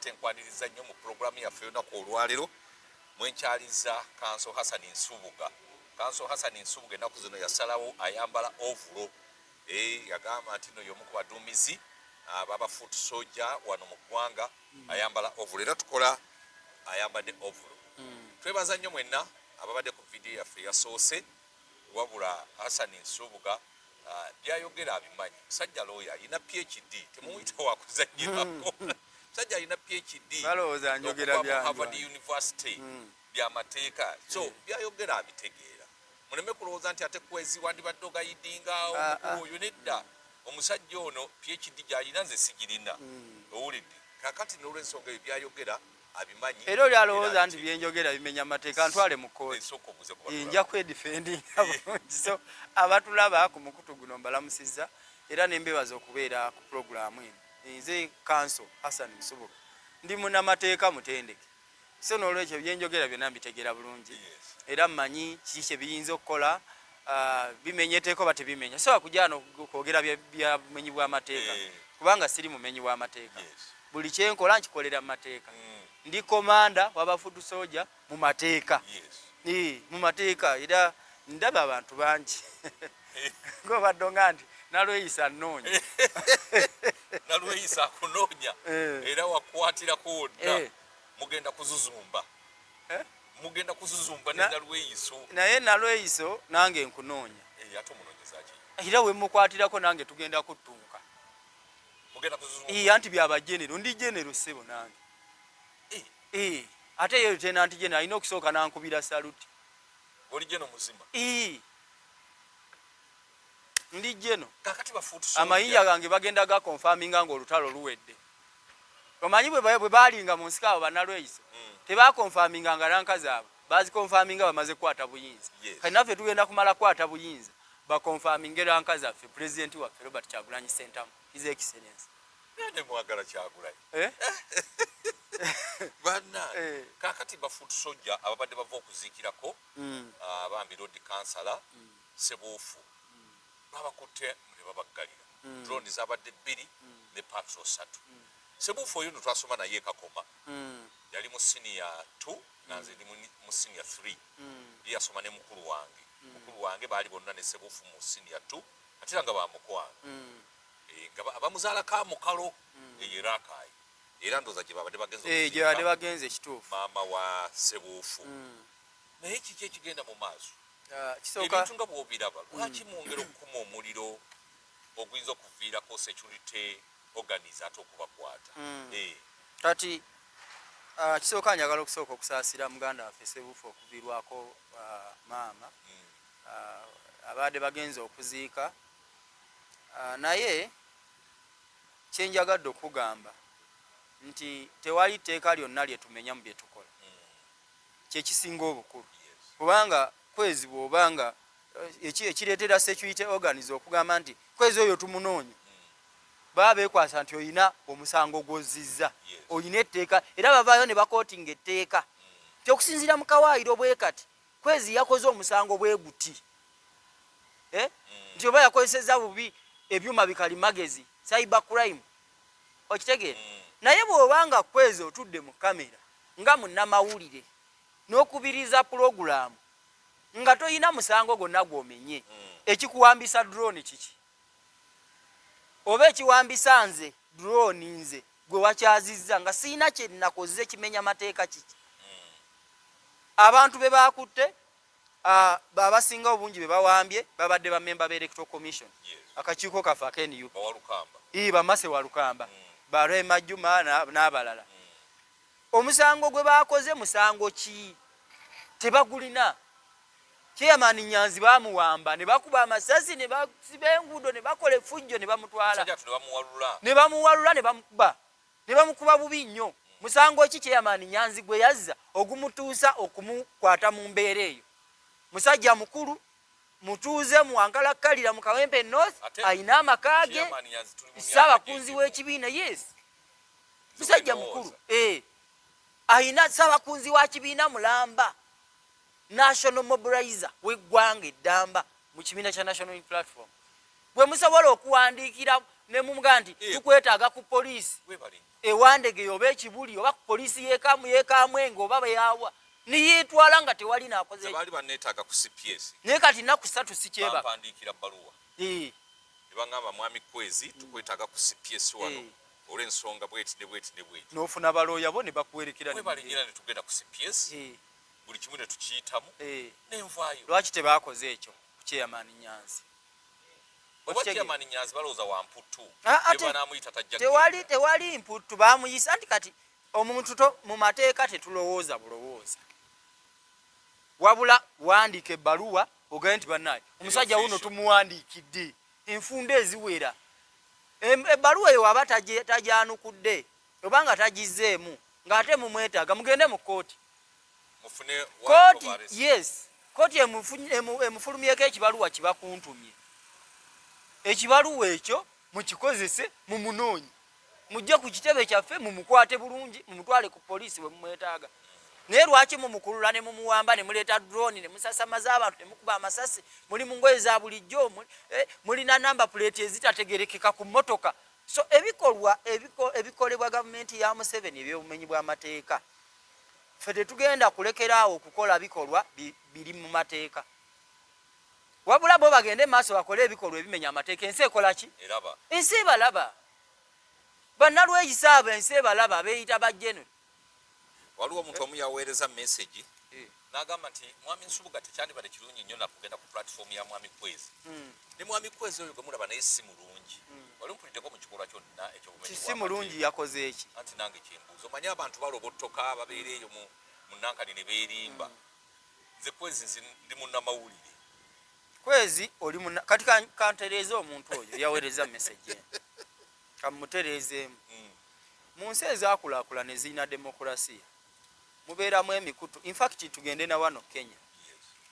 Tenkwaniriza nnyo mu pulogulaamu yaffe olunaku olwalero mwenkyaliza kanso Hassan Nsubuga. Kanso Hassan Nsubuga ennaku zino yasalawo ayambala ovulo eh, yagamba nti no y'omu ku baduumizi ah, baba foot soja wano mu ggwanga hmm. ayambala ovulo era tukola ayambadde ovulo. Hmm. Twebaza nnyo mwenna ababadde ku vidiyo yaffe yasoose Wabula Hassan Nsubuga byayogera abimanyi. Musajja looya alina PHD, temumuyita wakuzannyirako. Musajja alina PHD okuva mu Harvard University hmm. byamateeka, so hmm. byayogera abitegeera. Muleme kulowooza nti ate kwezi wandibadde ogayidinga ah, ah. omukulu oyo nedda. Omusajja ono PHD gy'alina nze sigirina, hmm. owulidde kakati n'olwensonga ebyo byayogera abimanyi era oli alowooza nti byenjogera bimenya amateeka ntwale mu kkooti eh, nja kwedifendinga eh. bulungi so abatulaba ku mukutu guno mbalamusizza era nembebaza okubeera ku pulogulaamu eno eh, nze kanso hassan musubuka ndi munamateeka mutendeke so n'olwekyo byenjogera byonna mbitegeera bulungi era mmanyi kiki kye biyinza okukola Ah, bimenya eteeka oba tebimenya sobola kujaa nokwogera byabumenyi bwamateeka eh. kubanga siri mumenyi wamateeka buli kyenkola nkikolera mumateeka mm. ndi komanda wabafudu soja mumateeka mumateeka era ndaba abantu bangi ngobadde nga nti nalweyisa nnoonya nalweyisa akunoonya eh. era wakwatirako wonna eh. mugenda kuzuzumba eh? mugenda kuzuzumba ne nalweyiso naye nalweyiso nange nkunoonya eh, ate omunonyezaki era wemukwatirako nange tugenda kuttunka iya nti byaba genero ndi genero ssebo nange eh. Eh, ate yeyo tena nti genero alina okusooka nankubira saluti oli geno muzima ndi jeno amayiya gange bagenda ga confirminga nga olutalo luwedde omanyi bwe balinga mu nsika abo banalweyiso hmm. tebakonfaminga nga ranka zaabwe bazikonfaminga bamaze kukwata buyinza kati naffe tugenda kumala kukwata buyinza bakonfaminge ranka zaffe pulezidenti waffe robert kyagulanyi sentamu his excellence mwagala kyagulanyi eh? banna eh. kakati bafutusojja ababadde bava okuziikirako hmm. ah, bambi rod kansala hmm. Ssebuufu babakutte ne babaggalira mm. drone zabadde bbiri mm. ne patro satu mm. Ssebuufu oyo no twasoma naye kakoma mm. yali mu siniya t nga nze ndi mu siniya th mm. ye yasoma ne mukulu wange mm. mukulu wange baali bonna ne Ssebuufu mu siniya t ate era nga bamukwano mm. e, nga abamuzaala ka mukalo mm. eyo era akaayi era ndooza gye babadde bagenze eh, gye babadde bagenze ekituufu maama wa Ssebuufu mm. naye kiki ekigenda mu maaso Ah, ebintu nga bwobiraba mm. lwaki mwongera okukuma omuliro oguyinza okuviirako security organis ate okubakwata mm. eh. kati ah, kisooka njagala okusooka okusaasira muganda waffe sebuufu okuvirwako ah, maama mm. abaade bagenza okuziika naye kyenjagadde okugamba nti tewali tteeka lyonna lyetumenya mu byetukola kyekisinga obukulu kubanga kwezi bwoba nga eh, ekireetera security organs okugamba nti kwezi oyo tumunoonya baba bekwasa nti olina omusango gwozizza olina etteeka era bavaayo ne bakootinga etteeka nti okusinziira mu kawaayiro bwe kati kwezi yakoze omusango bwe guti eh? mm. nti oba yakozesezza bubi ebyuma bikali magezi cyber crime okitegeera mm. naye bw'oba nga kwezi otudde mu kamera nga munnamawulire n'okubiriza pulogulaamu nga tolina musango gwonna gw'omenye hmm. ekikuwambisa drone kiki oba ekiwambisa nze drone nze gwe wakyazizza nga sirina kyenakoze kimenya mateeka kiki hmm. abantu be baakutte Uh, abasinga obungi bebawambye babadde ba memba be electoral commission akakiiko kaffe aka nup ii bamase walukamba mm. ba rema juma n'abalala mm. omusango gwe bakoze musango ki tebagulina chairman nyanzi bamuwamba ne bakuba amasasi ne basiba enguudo ne bakola efujjo ne bamutwala ne bamuwalula ne bamukuba ne bamukuba bubi nnyo. Musango ki Chairman Nyanzi gwe yazza ogumutuusa okumukwata mu mbeera eyo? Musajja mukulu, mutuuze mu Wankalakkalira mu Kawempe North, alina amaka ge, ssaabakunzi w'ekibiina. Yes, musajja mukulu, eh, alina ssaabakunzi wa kibiina mulamba. national mobilizer weggwanga eddamba mu kibiina kya national platform gwe musobola okuwandiikira ne mumugaa nti eh. tukwetaaga ku poliisi ewandegeye oba ekibuli oba ku poliisi yekamu yekamwenge oba beyawa niyitwala nga tewali nakoze naye kati naku satu sikyebaka eh. nebangamba mwami kwezi tukwetaaga ku cps wano eh. olwensonga bweti ne bweti ne bweti nofuna balooya bo ne bakuwerekera ne tugenda ku cps buli kimu ne tukiyitamu eh. nenvaayo lwaki tebaakoze ekyo ku kyeyamaani nyanzi obakyeyamaani nyanzi balowooza wa mputtu ah, ah, banaamuyita tajja tewali tewali mputtu baamuyisa nti kati omuntu to mu mateeka tetulowooza bulowooza wabula wandika ebbaluwa ogende nti banaye omusajja wuno tumuwandiikidde enfunda eziwera ebbaluwa eyo waba tajanukudde oba nga tagizzeemu ng'ate mumwetaaga mugende mu kkooti kkooti yes kkooti emufulumyeko ekibaluwa kibakuntumye ekibaluwa ekyo mukikozese mumunoonye mujje ku kitebe kyaffe mumukwate bulungi mumutwale ku poliisi we mumwetaaga naye lwaki mumukulula ne mumuwamba ne muleeta drone ne musasamaza abantu ne mukuba amasasi muli mu ngoye za bulijjo eh, mulina namba puleeti ezitategerekeka ku mmotoka So ebikolwa ebikolebwa gavumenti ya Museveni ebyobumenyi bw'amateeka ffe tetugenda kulekera awo okukola bikolwa biri mu mateeka wabula bo bagende maaso bakole ebikolwa ebimenya amateeka ensi ekola ki ensi ebalaba bannalweyisa abo ensi ebalaba beyita bajeno waliwo omuntu omu yaweereza message eh. nagamba nti mwami nsubuga tekyandibadde kirungi nnyo nakugenda ku platform ya mwami kwezi hmm. ne mwami kwezi oyo gwemulaba naye si mulungi hmm. wali mpulideko mu kikolwa kyonna ekyokisi mulungi yakoze eki anti nange kyembuuza omanye abantu balobotoka babeera eyo mu nankani ne beerimba hmm. nze kwezi nzi ndi munnamawulire kwezi oli kati kantereeza omuntu oyo yaweereza message kamutereezeemu hmm. mu nsi ezakulakulana ezirina demokulasiya mubeeramu emikutu infact tugende na wano kenya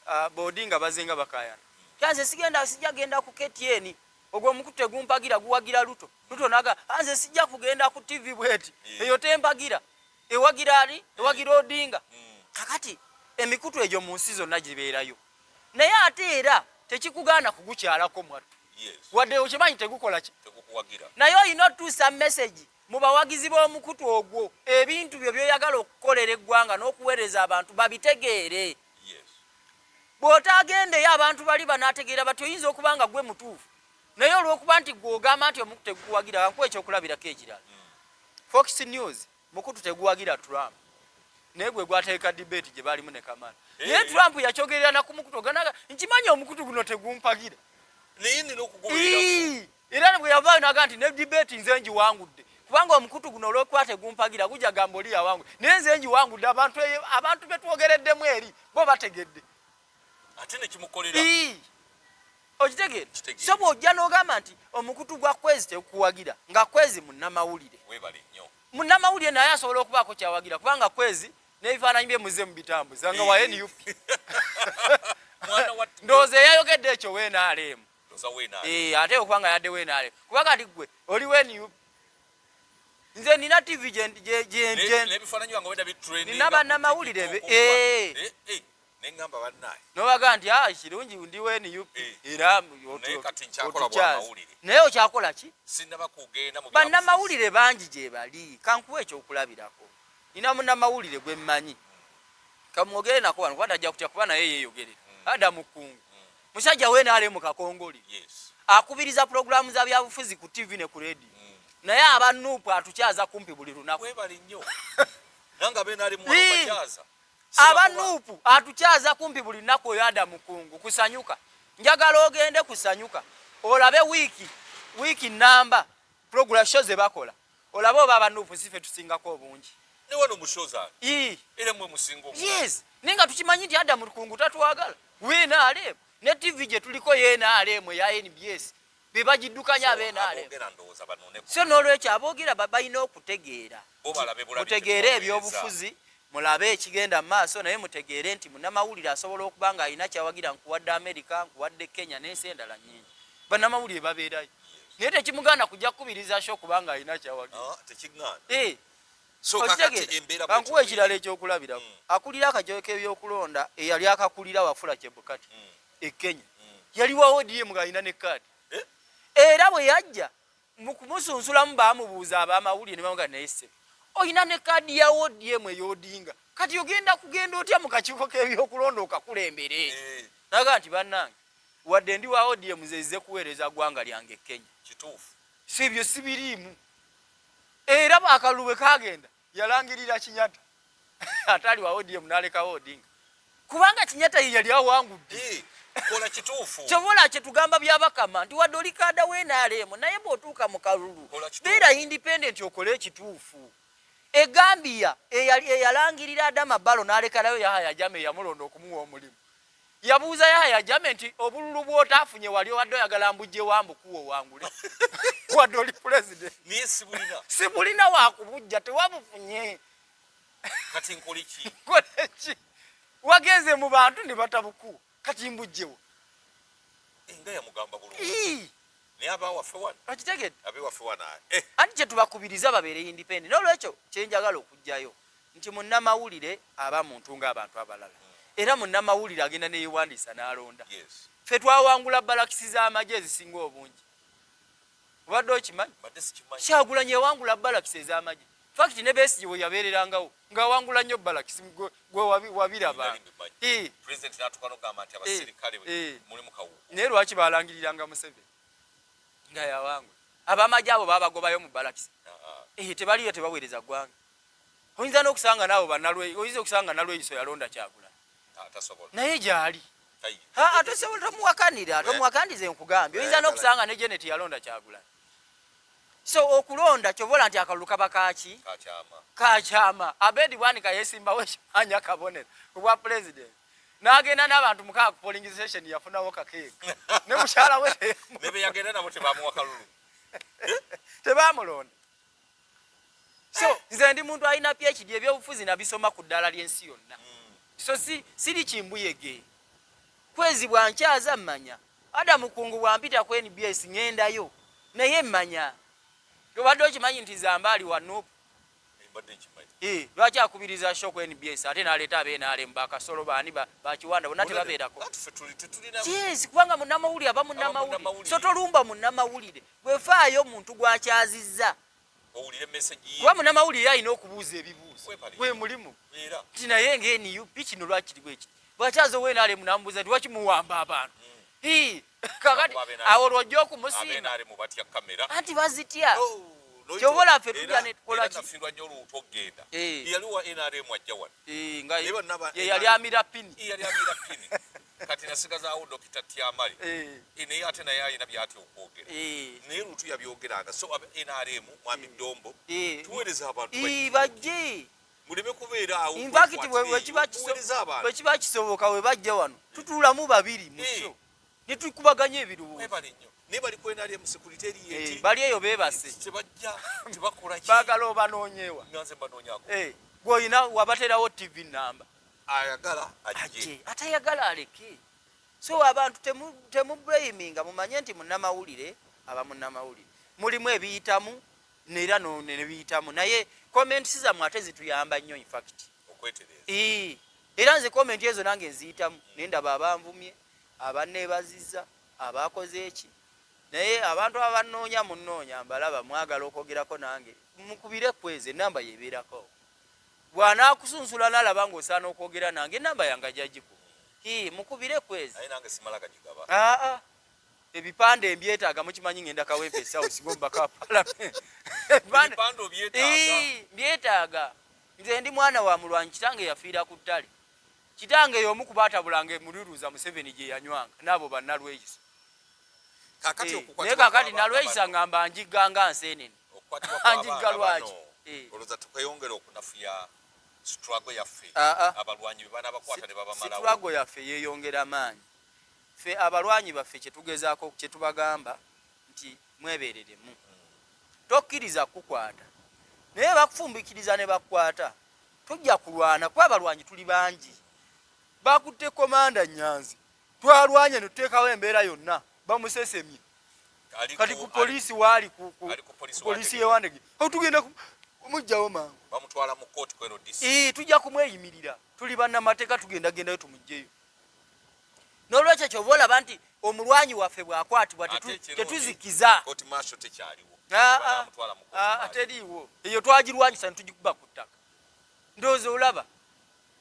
ah, bodi nga baze nga bakayana yanze sigenda sijja genda ku ktn ogwo omukutu tegumpagira guwagira luto luto naga anze ah, sijja kugenda ku tv bweti hmm. eyo tempagira ewagira ali ewagira odinga hmm. kakati emikutu egyo mu nsi zonna gibeerayo naye ate era tekikugaana kugukyalako mwattu wadde okimanyi tegukola ki naye olina otuusa mesegi mu bawagizi b'omukutu ogwo ebintu byo byoyagala okukolera eggwanga n'okuweereza abantu babitegeere bw'otaagendeyo abantu bali banaategeera bati oyinza okuba nga gwe mutuufu naye olw'okuba nti gweogamba nti omukutu egukuwagira kankuwa ekyokulabirako ekirala mm. fox news mukutu teguwagira trump naye gwe gwateeka debate gye baalimu ne kamala eh. naye trump yakyogerera na ku mukutu oganaga nkimanyi omukutu guno tegumpagira naye nina okuguberera era bwe yavaayo naga nti ne debate nze ngiwangudde kubanga omukutu guno olwokuba tegumpagira gujja gamba oli yawangudde naye nze ngiwangudde abantu eyo abantu betwogereddemu eri bo bategedde ate nekimukolera okitegeera so bwojja nogamba nti omukutu gwa kwezi tekuwagira nga kwezi munamawulire munamawulire naye asobola okubaako kyawagira kubanga kwezi nebifaananyi bye muze mubitambuza nga wa nup ndowooza eyayogedde ekyo wenaleemu eh, ate okuba nga yadde wenaleemu kuba kati gwe oli wenup nze nina tv gyenina banamawulire eh. eh, nengamba bannaye nobaga nti ah, kirungi ndi wa nup eh. era naye okyakola ki bannamawulire bangi gyebali kankuwa ekyokulabirako nina munamawulire gwemmanyi kamwogere nako wano kuba tajja kutya kuba naye yeyogerera hmm. ada mukungu hmm. musajja we naale mu kakongoli akubiriza pulogulaamu za byabufuzi ku tv ne ku redi hmm. naye abanupu atukyaza kumpi buli lunaku aba nuupu atukyaza kumpi buli nnaku oyo ada mukungu kusanyuka njagala ogende kusanyuka olabe wiiki wiiki namba program sho ze bakola olabe oba aba nuupu sife tusingako obungi yes naye nga tukimanyi nti ada mukungu tatwagala wnaaleemu ne tv gye tuliko ye naaleemu eya nbs bebagiddukanya abenaleso n'olwekyo aboogera balina okutegeera mutegeere ebyobufuzi mulabe ekigenda mu maaso naye mutegeere nti munamawulire asobola okuba nga alina kyawagira nkuwadde amerika nkuwadde kenya n'ensi endala nyingi banamawulire babeerayo naye tekimuganda kujja kukubiriza sho kubanga alina kyawagirankuwa ekirala ekyokulabirako hmm. akulira akajoyo k'ebyokulonda eyali akakulira wafula kyebukati hmm. e Kenya yali wa ODM ng'alina ne kaadi eh? era bwe yajja mu kumusunzulamu baamubuuza ab'amawulire ne bamugamba naye ssebe olina ne kaadi ya ODM ey'Odinga kati ogenda kugenda otya mu kakiiko k'ebyokulonda okakulembere eh. naga nti bannange wadde ndi wa ODM zezize kuweereza ggwanga lyange e Kenya kituufu si byo sibiriimu era akalulu bwe kaagenda yalangirira kinyata ataali wa odm nalekawo odinga kubanga kinyata ye yali awangudde kola kituufu kyobola kyetugamba byabakama nti wadde oli kaada wenaalemu naye bwotuuka mu kalulu beera independent okole ekituufu egambia eyalangirira adama balo nalekalayo yahaya jama eyamulonda okumuwa omulimu Yabuuza Yahya Jammeh nti obululu bw'otaafunye wali obadde oyagala mbujje wa mbukuwa owangule wadde oli pulezidenti naye sibulina sibulina wakubujja tewabufunye kati nkole ki nkole ki wagenze mu bantu ne batabukuwa kati mbujjewo enga yamugamba bulungi naye abawaffe wano okitegedde abewaffe wano eh. anti kyetubakubiriza babeere independent n'olwekyo kyenjagala okugjayo nti munnamawulire aba muntu ng'abantu abalala mm. era munnamawulire agenda neyewandiisa n'alonda ffe twawangula balakisi z'amagye ezisinga obungi obadde okimanyi kyagulanya ewangula balakisi ez'amagye fakiti ne besigye we yabeererangawo ng'awangula nnyo balakisi gwe wabiraba naye lwaki balangiriranga museveni nga yawangula abamagye abo babagobayo mu balakisi ah, ah. eh, tebaliyo tebaweereza ggwanga oyinza n'okusanga naawe banalwe oyinza okusanga nalweyiso yalonda kyagula ah, naye gyali ate sobola tomuwakanira eh. tomuwakanize nkugambye oyinza eh, n'okusanga ne jeneti yalonda kyagula so okulonda kyobola nti akalulu kaba kaki kakyama abedi bwanika yesimbawo ekimaanya kabonero obwa pulezidenti nagenda nabantu mukaa kupoling station yafunawo kakeeka ne mukyala we tebamulonda so eh. nze ndi muntu alina phd ebyobufuzi nabisoma ku ddala lyensi yonna hmm. so si siri kimbuyege kwezi bwankyaza mmanya ada mukungu bwampita ku nbs ŋendayo naye mmanya obadde okimanyi nti zambaali wa nup eh, lwaki akubiriza sho ku nbs ate naleeta abenalemu bakasolo baani bakiwanda bona tebabeerako kubanga munamawulire aba munamawulire so tolumba munamawulire Gwe faayo omuntu gwakyazizza owulire message ye. Kuba munamawulire alina okubuuza ebibuuzo. Gwe mulimu. Nti naye nga NUP kino lwaki kiriwo ekyo. Bwakyaza owe naale munamubuuza nti lwaki muwamba abantu. Mm. Hii. Kakati awo lwojja okumusiima. Anti bazitya. Oh, Kyobola ffe tujja ne tukola ki? Nafirwa nyo luutu okugenda. Eh. Yali wa NRM ajja wano. Eh, nga ye yali amira pini. Yali amira pini. kati nasigazaawo dokita tyamale eh. eh, naye ate naye alina byati okwogera eh. naye lutu yabyogeranga so nrm mwami dombo tuweereza abantu bajje muleme kubeera awo infakiti bwekiba kisoboka we bajja wano tutuulamu babiri muso netukubaganya ebirowoozo naye bali ku nrm sekurite eriye bali eyo bebase tebajja tebakolaki bagala obanoonyewa nganze mbanoonyako gweolina wabaterawo tv namba ayagala ajje atayagala aleke so abantu temublaminga mumanye nti munamawulire aba munamawulire mulimu ebiyitamu neera nebiyitamu naye comments zamwe ate zituyamba nnyo infact era nze comment ezo nange nziyitamu naye ndaba abanvumye abanebaziza abakoze eki naye abantu abanoonya munoonya mbalaba mwagala okwogerako nange mukubire kweze enamba yebeerako bwanaakusunsula nalaba nga osaana okwogera nange enamba yange ajagiku hi mukubire kwezi aa ebipande mbyetaaga mukimanyi ngenda kawempe esawusigomba ka palamenti mbyetaaga nze ndi mwana wa mulwanyi kitange yafiira ku ttale kitange yomu kuba atabulanga emululuza museveni gye yanywanga naabo banalweyisa eh, naye kakati nalweyisa ngamba njigga nga nseenene okukwatibwa kwabaana bano eh. olowooza tukweyongera okunafuya struggle yaffe ah, ah. abalwanyi bebana bakwata ne babamalawo struggle yaffe yeyongera maanyi fe abalwanyi baffe kyetugezaako kyetubagamba nti mwebereremu hmm. tokkiriza kukwata naye bakufumbikiriza ne bakwata tujja kulwana kuba abalwanyi tuli bangi bakutte komanda nyanzi twalwanye netuteekawo embeera yonna bamusesemye kati ku poliisi waali ku poliisi yewandege tugenda mujjawo mangu bamutwala mu kooti kweno disi ee tujja kumweyimirira tuli bannamateeka tugenda gendayo tumugjeyo nolwekyo kyova olaba nti omulwanyi waffe bwakwatibwa tetuzikiza teriiwo eyo twagirwanyisa netugikuba ku ttaka ndowooza olaba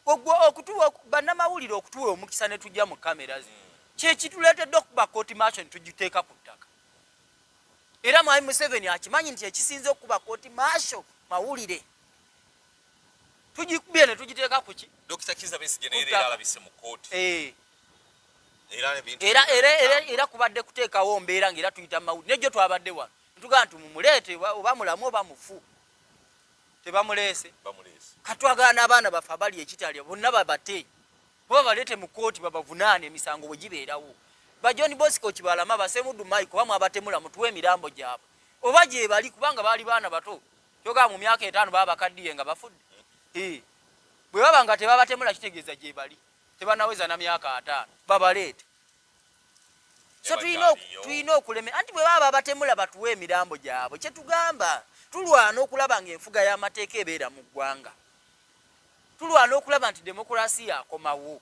Ogwo okutuwa bannamawulire okutuwa omukisa ne tujja mu kamera zi kyekituleetedde okukuba kooti maaso ne tugiteeka ku ttaka era mwami Museveni akimanyi nti ekisinze okukuba kooti maaso mawulire tugikubye ne tugiteeka ku ki Dokita Kizza Besigye naye leero alabise mu kooti eh. era kubadde kuteekawo mbeera ngaera tuyita mumawulire nejjo twabadde wano ntugaa nti mumuleete oba mulamu oba mufu tebamuleese katwagala n'abaana baffe abali ekitalya bonna babate kuba baleete mu kooti babavunaana emisango bwe gibeerawo ba john bosco kibalama basemudu mike oba mwabatemula mutuwa emirambo gyabwe oba gyebali kubanga baali baana bato kyogaa mu myaka etaano baba bakaddiye nga bafudde eh. bwe baba nga tebabatemula kitegeeza gyebali tebanaweza na myaka ataano babaleete so tulina okuleme anti bwe baba babatemula batuwa emirambo gyabwe kyetugamba tulwana okulaba nga enfuga y'amateeka ebeera mu ggwanga tulwana okulaba nti demokulasi yakomawo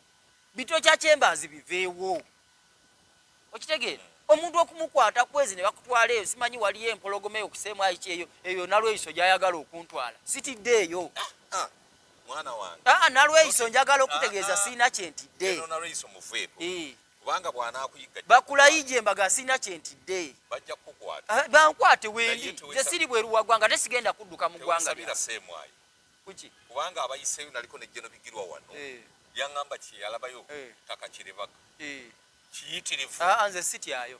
bito kya kyembaazi biveewo okitegeera omuntu okumukwata kwezi ne bakutwala eyo simanyi waliyo empologoma eyo kuseemu ayiki eyo eyo nalweyiso gyayagala okuntwala sitidde eyo ah, ah. mwana wange ah, ah nalweyiso njagala okutegeeza ah, ah. sirina kyentidde nalweyiso muveeko eh. kubanga bwanakuyiga bakulayija embaga sirina kyentidde bajja kukukwata ah, bankwate wendi ze siri bweru wa ggwanga tesigenda kudduka mu ggwanga lyasemwayo kuki kubanga abayiseeyo naliko nejjeno bigirwa wano eh. yangamba kyeyalabayo eh. takakiribaka kiyitirivu nze sityayo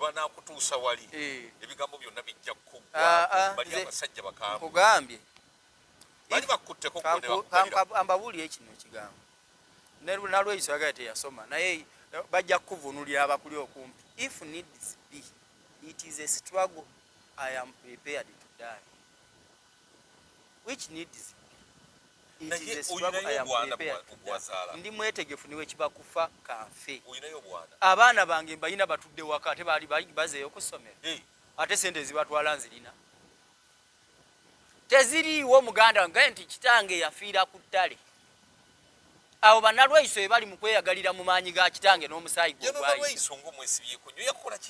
banakutuusa wali eh. ebigambo byonna bijja kukuggwa ah, bali ah, abasajja bakambwe kugambye bali bakutteko ambabuulira ekino ekigambo nalweyiso yagala teyasoma naye eh, bajja kukuvunulira abakuli okumpi if needs be it is a struggle i am prepared to die which needs ndi mwetegefu niwe kiba kufa kanfe abaana bange mbalina batudde waka ate baali bazeeyo kusomero eh. ate sente ezibatwala nzirina teziriiwo muganda wange nti kitange yafiira ku ttale Awo banalweiso ebali mu kweyagalira mu maanyi ga kitange n'omusaayi gwe ogwayi.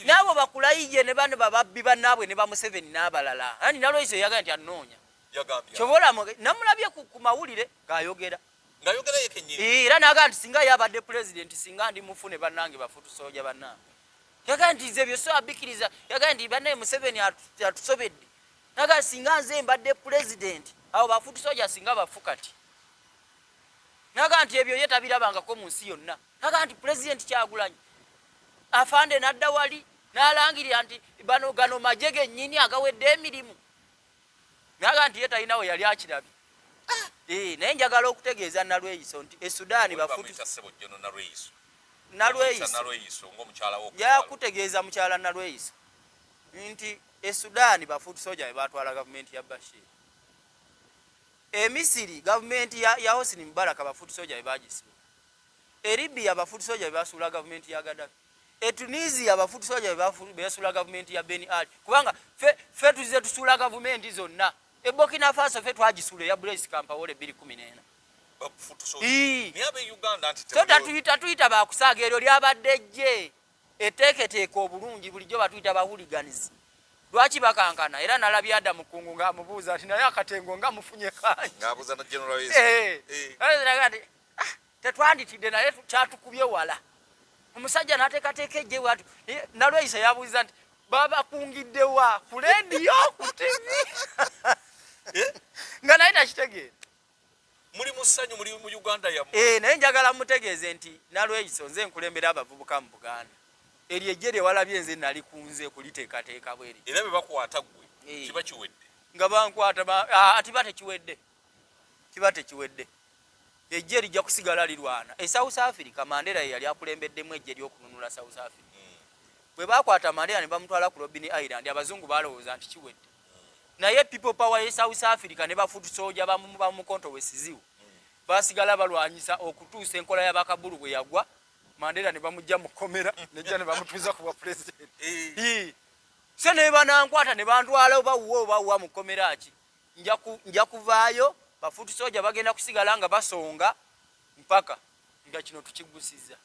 N'abo bakulayiye ne bano bababbi bannaabwe ne Bamuseveni n'abalala. Ani nalweiso yeyagala nti annoonya. Kyova olaba namulabye ku mawulire ng'ayogera. Era n'agamba nti singa ye abadde pulezidenti singa ndi mufu ne bannange bafu tusooja bannange. Yagamba nti nze ebyo so abikiriza. Yagamba nti bannaye Museveni atusobedde. Naga singa nze mbadde pulezidenti abo bafuuti soja singa bafu kati. Naga nti ebyo ye tabirabangako mu nsi yonna. Naga nti pulezidenti Kyagulanyi afande n'adda wali n'alangirira nti bano gano magye gennyini agawedde emirimu. Naga nti ye talina we yali akirabye. Ah, eh, naye njagala okutegeeza Nalweyiso nti e Sudaani bafuuti Nalweyiso yakutegeeza mukyala Nalweyiso nti E Sudan ba foot soldier bebatwala gavumenti ya Bashir. E Misiri gavumenti ya, ya Hosni Mubarak ba foot soldier bebagisiba. E Libya ba foot soldier bebasuula gavumenti ya Gaddafi. E Tunisia ba foot soldier bebasuula gavumenti ya Ben Ali. Kubanga fe, fe tuzize tusuula gavumenti zonna. E Burkina Faso fe twagisuula ya Blaise Compaore 2014. Bakufutuso. Ii. Niabe Uganda anti. So tatuyita tuyita bakusaaga eryo lyabadde jje. eteeketeeke obulungi bulijjo batuyita bahuliganizi lwaki bakankana era nalabye ada mukungu nga amubuuza nti naye akatengo nga mufunye kangiabuuzanagenrati eh, eh. eh, ah, tetwanditidde naye kyatukubye wala omusajja natekateeka ejje bwati nalweyisa yabuuza nti babakungiddewa ku lediyo ku tivi nga naye takitegeera muli mu ssanyu muli mu uganda yammwe eh, naye njagala mutegeeze nti nalweyiso nze nkulembera abavubuka mu buganda eryo ejje lye walabye nze nali kunze kuliteekateeka bweri era bwe bakwata ggwe eh. kiba kiwedde nga bankwata ati ba tekiwedde kiba tekiwedde ejje lijja kusigala lirwana e south africa mandera ye yali akulembeddemu ejje lyokununula south africa hmm. bwe bakwata mandera ne bamutwala ku robini island abazungu balowooza nti kiwedde naye people power ye south africa ne bafutu soja bamukonto wesiziwo basigala balwanyisa okutuusa enkola ya bakabulu bwe yagwa mandera ne bamujja mu komera nejja ne bamutuuza ku bwa president eh. se ne banankwata ne bantwala oba wuwa oba wuwa mu komera ki nja kuvaayo bafutu soja bagenda kusigala nga basonga mpaka nga kino tukigusiza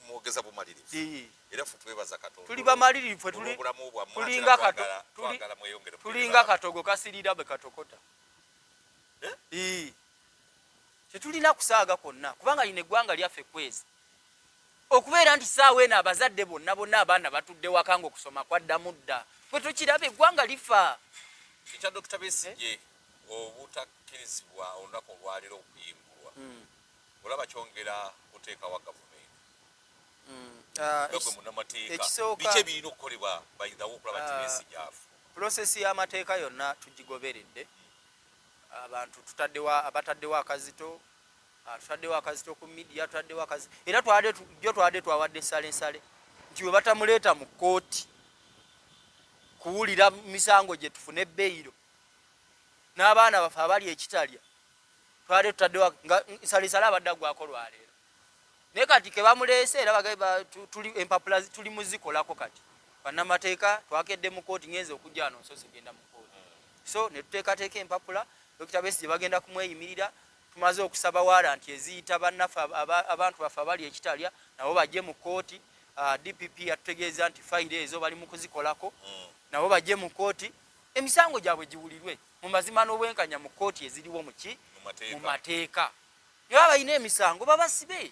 mwogeza bumalirivu era ffe twebaza katonda tuli bamalirivu ffe tuli obulamu bwa tulinga kato twagala mweyongere tulinga katogo kasirira be katokota eh ee tetulina kusaaga konna kubanga ine gwanga lyaffe kwezi okubeera nti saawa eno abazadde bonna bonna abaana batudde wakanga okusoma kwaddamu dda fwe tukiraba eggwanga lifa ekya dokita besigye eh? obutakkirizibwa olunaku olwaliro okuyimbulwa hmm. olaba kyongera kuteekawa gavumenti mm, ah, gwe munamateeka biki ebirina okukolebwa bayidhawo okulaba nti ah, ensi gyafu pulosesi y'amateeka yonna tugigoberedde abantu tutaddewo abataddewo akazito ah, tutaddewo akazito ku midiya tutaddewo akazito era jo twabadde twawadde salensale nti we batamuleeta mu kkooti kuwulira misango gye tufune beyiro n'abaana baffe abali ekitalya twali tutaddewa nga nsalisala abadde agwako lwaleero naye kati kebamuleese era tuli empapula tuli muzikolako kati bannamateeka twakedde mu kooti ngenze okujja wano nsoose genda mu kooti so ne tuteekateeka empapula dokita besi gye bagenda kumweyimirira tumaze okusaba waranti eziyita bannaffe abantu baffe abali ekitalya nabo bajje mu kooti ah, dpp yatutegeeza nti fayiro ezo bali mu kuzikolako mm. nabo bajje mu kooti emisango gyabwe giwulirwe mu mazima n'obwenkanya mu kkooti eziriwo muki mu mateeka ne baba balina emisango babasibe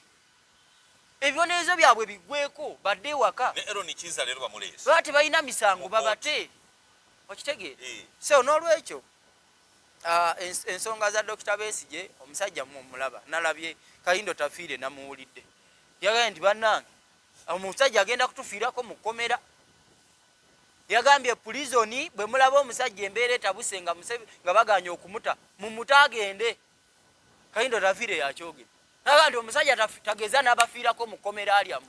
ebibonerezo byabwe biggweko badde ewaka baba tebalina misango babate okitegeera eh. so n'olwekyo ah, ensonga za dokita besigye omusajja mumulaba nalabye kayindo tafiire namuwulidde yagambye nti bannange omusajja agenda kutufiirako mu kkomera Yagambye pulizoni bwe mulaba omusajja embeera etabuse nga nga baganye okumuta mumute agende. Kayindo Ravire yakyogera naga nti omusajja tageza n'abafiirako mu kkomera lyamu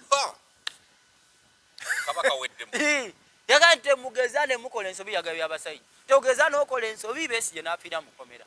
yaga nti temugeza ne mukola ensobi yagabye abasajja togeza n'okola ensobi besigye n'afiira mu kkomera.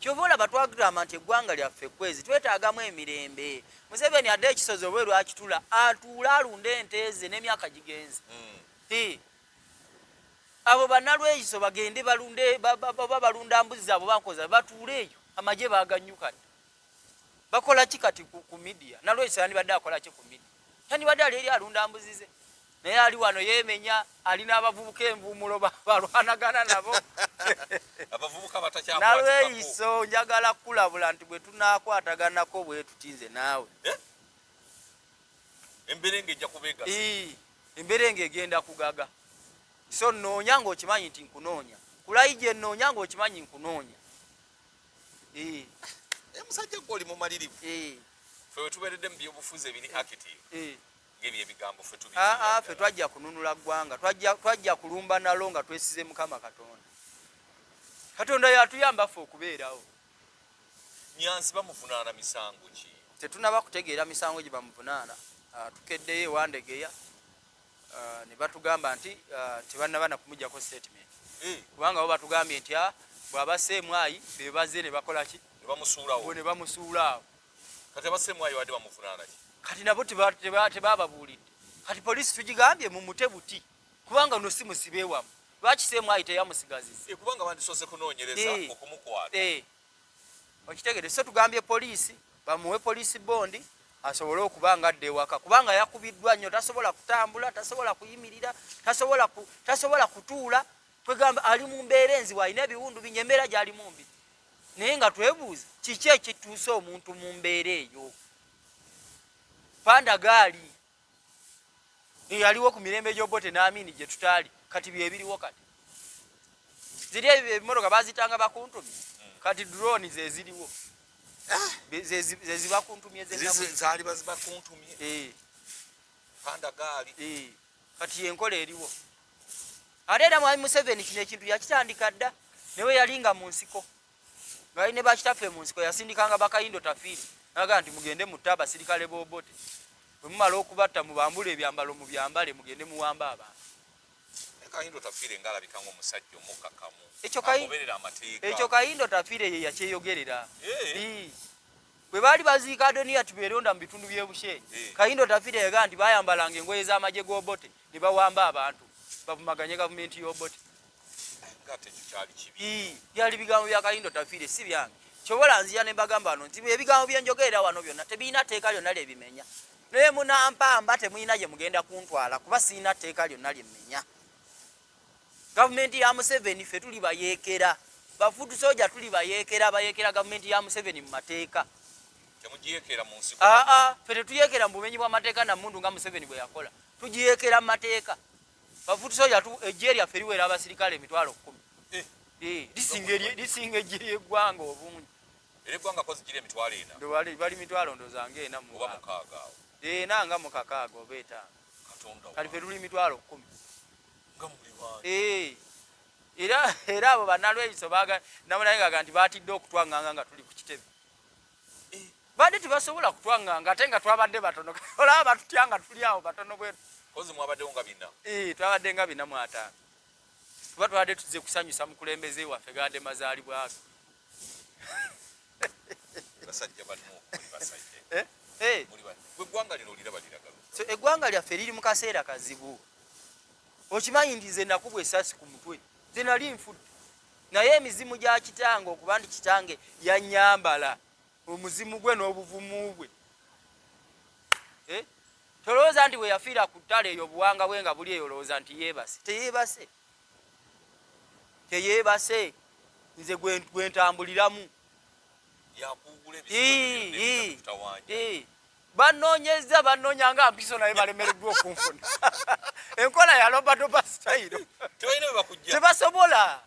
Kyova olaba twagamba nti eggwanga lyaffe kwezi twetaagamu emirembe. Museveni adde ekisozi oba erwakitula atuule alunde ente ze n'emyaka gigenze. Hmm. Abo banalweyiso bagende balunde oba balunda mbuzi zaabo bankoza batuule eyo amagye baaganyukana. Bakola ki kati ku midiya? Nalweyiso yandibadde akola ki ku midiya? Yandibadde ali eri alunda mbuzi ze. naye ali wano yemenya ali n'abavubuka envuumulo balwanagana nabo nalweyiso njagala kukulabula nti bwe tunakwataganako bwe tutinze naawe eh? emberenge egenda kugaga so nnoonya ng'okimanyi nti nkunoonya kulayi gye nnoonya ng'okimanyi nkunoonya eh. Eh, musajja gwe oli mumalirivu fe wetubeeredde mu byobufuzi ebiri active ngeri ebigambo fe tubi a a fe twajja kununula gwanga twajja twajja kulumba nalo nga twesize mukama katonda katonda yatuyamba fe okubeerawo nyansi bamuvunaana misango ki tetunaba kutegeera misango gye bamuvunaana ah, tukeddeyo ewandegeya ah, ne batugamba nti ah, tebanabana kumujjako statement eh. kubanga bo batugambye nti bw'aba seemwayi be baze ne bakola ki ne bamusuulawo ne bamusuulaawo kati abasiremu ayo wadde bamuvunaana ki kati nabo tebababuulidde kati poliisi tugigambye mumute buti kubanga ono si musibe wamu lwaki siremu ayo teyamusigaziza eh, kubanga bandisoose kunoonyereza eh. okumukwata eh. okitegede so tugambye poliisi bamuwe poliisi bondi asobole okuba nga adda ewaka kubanga yakubiddwa nnyo tasobola kutambula tasobola kuyimirira tasobola kutuula kwegamba ali mu mbeera enzibu alina ebiwundu binyo embeera gyalimu mbi naye nga twebuuza kiki ekituusa omuntu mu mbeera eyo panda gaali eyaliwo ku mirembe gyobote naamini gye tutaali kati byebiriwo kati ziri ebimotoka bazitanga bakuntumye kati drone zeziriwo ah! zezibakuntumye zalibazibakuntumye eh. panda gaali eh. kati yenkola eriwo ate era mwami museveni kino ekintu yakitandika dda newe yali nga mu nsiko ngali ne bakitaffe mu nsiko yasindikanga bakayindo tafiiri naga nti mugende mutte abasirikale bobote bwe mumala okubatta mubambule ebyambalo mu byambale mugende muwamba abantu kayindo tafiire nga alabika ngaomusajja omukkakamu agoberera amateeka ekyo kayindo tafiire ye yakyeyogerera bwe baali baziika adoniya tibeeronda mu bitundu by'e busheeri eh. kayindo tafita yagamba nti bayambalanga engoye z'amagye g'obote ne bawamba abantu bavumaganye gavumenti y'obote byali bigambo bya kayindo tafiire si byange kyobola nzija ne mbagamba no nti ebigambo bye njogerera wano byonna tebirina tteeka lyonna lye bimenya naye munampamba temulina gye mugenda kuntwala kuba sirina tteeka lyonna lye mmenya gavumenti ya museveni fe tuli bayeekera bafudu soja tuli bayeekera bayeekera gavumenti ya museveni mu mateeka aa fe tetuyeekera mu bumenyi bw'amateeka na mundu nga museveni bwe yakola tugiyeekera mu mateeka bafudu soja ejje lyaffe liwera abasirikale emitwalo kkumi eh. eh, lisinga ejje ly'eggwanga obungi bali mitwalo ndozanga ena ena nga mukakaaga oba etaano kati fe luli mitwalo kumi eh. era era abo banalweyiso baga namunaye ngaga nti batidde okutwanganga nga tuli ku kitebe eh. badde tebasobola kutwanganga ate nga twabadde batono olaba batutya nga tuli awo batono bwetu eh, twabadde nga bina mu ataano kuba twabadde tuze kusanyusa mukulembeze waffe gade mazaalibwaga basajja banno muli basajja eh? Eh. muli banno gwe eggwanga lino oliraba liragalu so eggwanga lyaffe liri mu kaseera kazibu okimanyi nti nze nakubwa esasi ku mutwe nze nali nfudde naye emizimu gya kitange okuba nti kitange yanyambala omuzimu gwe n'obuvumu bwe eh? tolowooza nti bwe yafiira ku ttale eyo obuwanga bwe nga buli eyo olowooza nti yeebase teyeebase teyeebase nze gwentambuliramu banonyeza banonya nga mpiso naye balemereddwa okunfuna enkola ya lobadoba sitayiro tebasobola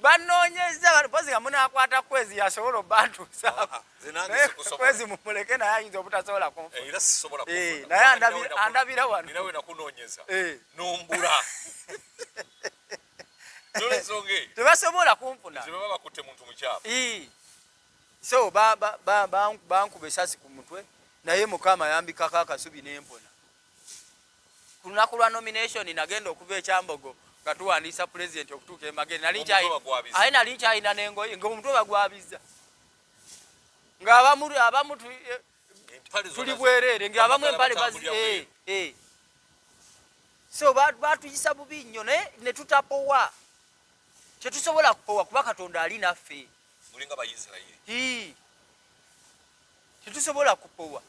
banoonyezza bano mpozi nga munakwata kwezi yasobola obantuusakwezi ah, mumuleke naye ayinza obutasobola kunfunaye eh, eh, andabira wanotebasobola kunfuna so bankuba esasi ku mutwe naye mukama yambikako akasubi nempona ku lunaku lwa nomination nagenda okuva ekyambogo nga tuwandiisa pulezidenti okutuuka emagere naye nali nkyalina nengoye nga omutwe bagwabiza nga abamu abamu eh, tuli bwereere nga abamu empale bazi eh, eh. so batuyisa bubi nnyo naye netutapowa tetusobola kupowa kuba katonda ali naffe tetusobola kupowa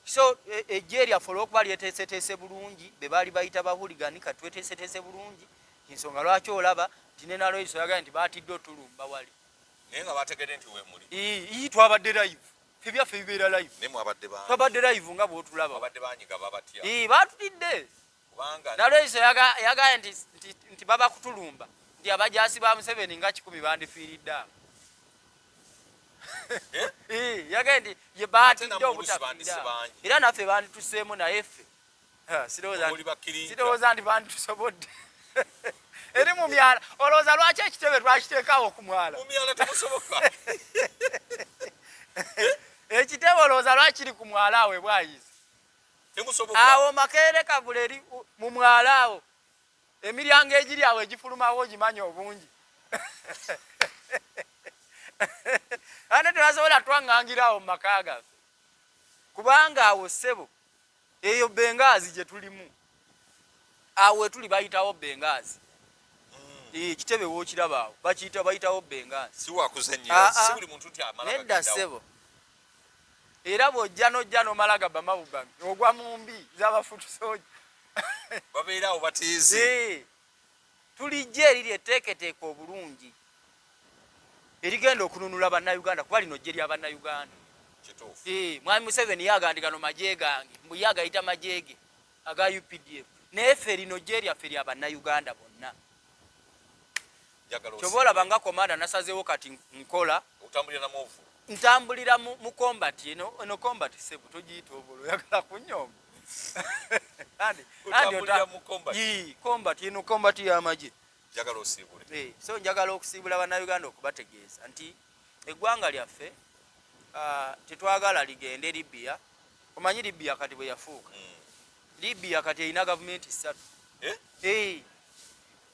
so ejje e, lyaffe olwokuba lyeteeseteese bulungi be baali bayita bahuligani ka tweteeseteese bulungi ensonga lwaki olaba nti ne naloiso yagala nti baatidde otulumba wali naye nga bategedde nti wemuli ii twabadde live ebyaffe bibeera live twabadde live nga bwotulaba batutidde nalweyiso yagambye nti, nti, nti baba kutulumba nti abajaasi ba museveni nga kikumi bandifiiridde awo eh? eh, yagambye nti ye baatidde obutafiira era naffe bandituseemu naye ffe sirowooza nti banditusobodde eri mu myala olowooza lwaki ekitebe twakiteekaawo ku mwala ekitebe olowooza lwakiri ku mwala awe bwayizi awo makeere kavula eri mu mwala awo emiryango egiri awo egifulumawo ogimanya obungi ate tebasobola twaŋŋangira awo mu maka gaffe kubanga awo ssebo eyo bengaazi gye tulimu awo wetuli bayitawo bengaazi ekitebe hmm. eh, wokiraba awo bakiyita bayitawo bengaazi nedda ssebo era bw'ojja n'ojja n'omala gabba mawuga ogwa mu mbi z'abafutusooja babeera awo batiizi tulijja eriri etteeketeeka obulungi erigenda okununula bannayuganda kuba lino jje lya bannayuganda mwami museveni yagandi gano magye gange mbu ye agayita magye ge aga updf naye ffe lino jje lyaffe lya bannayuganda bonna kyoba olaba nga komanda nasazewo kati nkola ntambulira mu combat eno combat sebu togiyita obolo oyagala kunyomba combat eno combat yamagye eh, so njagala okusiibula bannayuganda okubategeeza nti eggwanga lyaffe ah, tetwagala ligende libia omanyi libia kati bwe yafuuka hmm. libia kati erina gavumenti ssatu eh? Eh.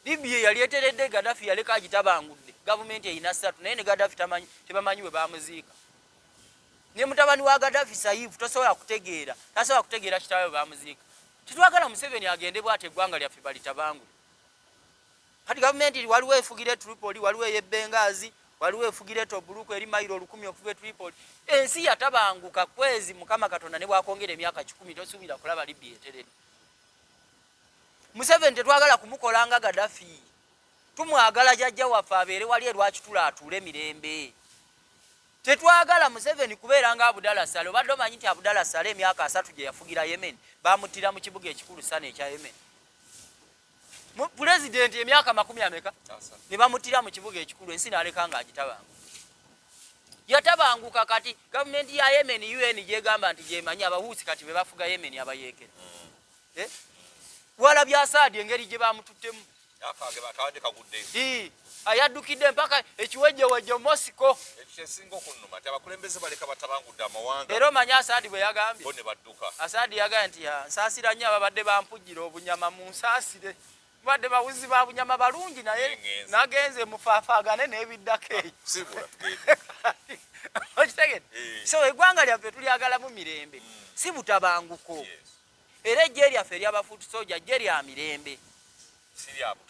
Libya yali eteredde Gaddafi yaleka agitabangudde gavumenti erina ssatu naye ne Gaddafi tamanyi tebamanyi bwe bamuziika ne mutabani wa Gaddafi Saif tosobola kutegeera tasobola kutegeera kitaawe bamuziika tetwagala Museveni agende bwati eggwanga lyaffe balitabangule kati gavumenti waliwo efugira e Tripoli waliwo ey'e Benghazi waliwo efugira e Tobruk eri mayiro olukumi okuva e Tripoli ensi yatabanguka kwezi Mukama Katonda ne bwakwongera emyaka kikumi tosuubira kulaba Libya eteredde museveni tetwagala kumukola nga gadafi tumwagala jajja waffe abeere wali erwakitula atuule mirembe tetwagala museveni kubeera nga abudala sale obadde omanyi nti abudala sale emyaka asatu gye yafugira yemen bamuttira mu kibuga ekikulu sana ekya yemen pulezidenti emyaka makumi ameka ne bamuttira mu kibuga ekikulu ensi naleka nga agitabangu yatabanguka kati gavumenti ya yemen un gyegamba nti gyemanyi abahuusi kati bebafuga yemen abayeekera mm. eh? wala byasaadi engeri gye bamututtemu ayaddukidde mpaka ekiwejjewejjo mosiko era omanyi asaadi bwe yagambye asaadi yagambye nti nsaasira nnyo ababadde bampujjira obunyama mu nsaasire badde bawuzi ba bunyama balungi naye nagenze mufafaagane n'ebiddako eyo okitegede eh. so egwanga lyaffe tulyagalamu mirembe hmm. si butabanguko era ejje lyaffe eryaba foot soja jje lya mirembe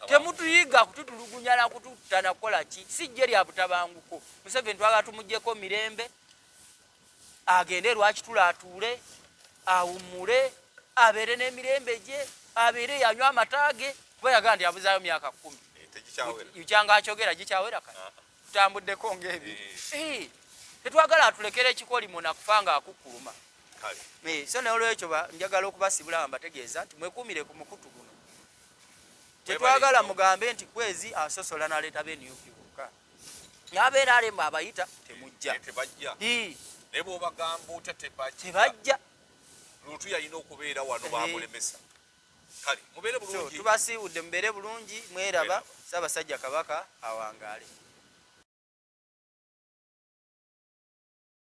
temutuyiga kututulugunya na kututta nakukola ki si jje lya butabanguko museveni twagala tumugyeko mirembe agende lwakitula atuule awummule abeere n'emirembe gye abeere yanywa amataage kuba yagala nti abuzayo myaka kumi eh, yukyanga akyogera gikyawera kati ah, ah. tutambuddeko ngaebi eh. eh, tetwagala atulekera ekikolimo nakufa nga akukuluma eh, so nolwekyo njagala okubasibula nga mbategeeza nti mwekuumire ku mukutu guno tetwagala mugambe nti kwezi asosola naleeta benup bokka nabeera alemu abayita temujja tebajja lutu yalina okubeera wano bamulemesa kale mubeere bulungi tubasiibudde mubeere bulungi mweraba ssaabasajja kabaka awangaale